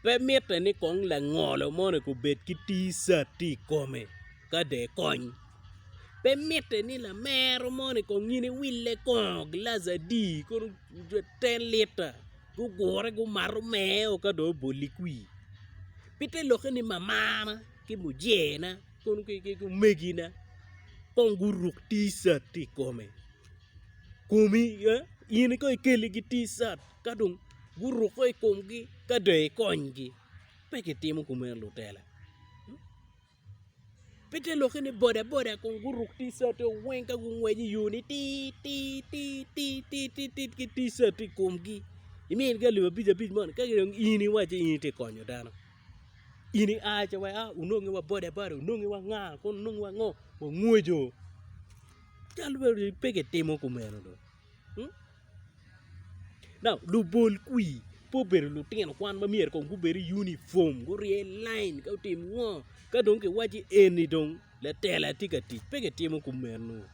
Pe mitte ni kong langolo mono obed ki T-cert i kome ka dong ekony. Pe mitte ni lamero moni kong in iwille kongo gilaci adi kono ten lita gugure gumato meo ka dong oboli kwir. Pe te lokke ni mamana ki mujena kono ki omegina kong guruk T-cert i kome komi in kong ikeligi T-cert. ka dong guruko i komgi ka dong ikonygi pe kitimo kumeno lutela pe te lokke ni bodaboda kong guruk ticat weng ka gungweco i yo-ni tiiiitit ki ticat i komgi imiyogi alip abic abic moni ka dong in iwaco ni in itye ka konyo dano in ia ca wa onongi wa bodaboda onongi wa nga kun onongi wa ngo wangweco cal pe kitimo kumeno dong. Lubol-kwir pe obedo lutino kwan ma myero kong gubed i unifom gurye lain ka gutim ngo ka dong kiwacci eni dong latela tye ka tic pe kitimo kumeno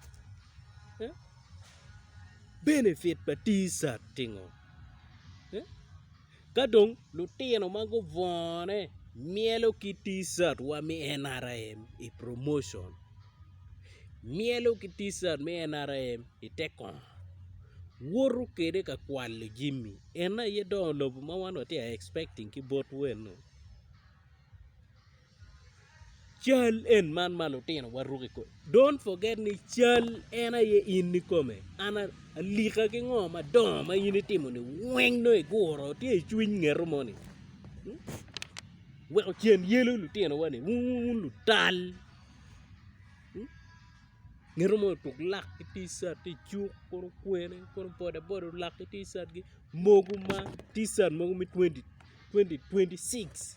benefit pa ticat tye ngo. Ka dong lutino ma gubwone myelo ki ticat wa me NRM i promocon myelo ki ticat me NRM i te kor woto kwede ka kwalo jami ene aye dongo lobo ma wan watye ka expecting ki botwu eno. Cal en man ma lutino wa ruko i kome don't forget ni cal en aye in ikome an alika ki ngo madongo ma in itimo ni weng nongo iguro tye i cwiny ngeto moni weko ceng yelo lutino wa ni wun lutal ngeto moni otuk lak ki ticat tye icuk kono kwene kono boda boda olak ki ticat gi mogo ma ticat mogo me twenty twenty six.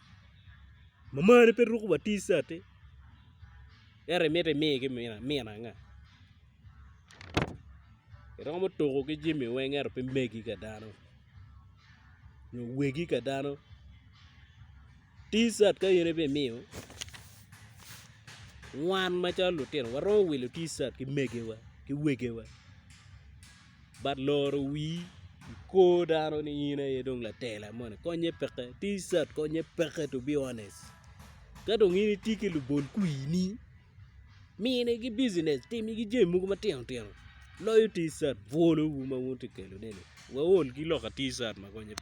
Mamani pe ruko batija ati ento imito imi ki nino anga? Iromo tuko ki jami weng ento pe megi ka dano nyo wegi ka dano ticat ka in aye imiyo wan macalo lutino waromo wilo ticat ki megewa ki wegewa. but loro wii i kor dano ni in aye dong latela moni konye peke ticat konye peke to bi honest ka dong in itye ki lubol kwir ni mine gi business timi ki jami mogo matino tino loyo ticat bwolo wu ma wun wutye ka kelone ni wa ol ki loka ticat ma konye peke.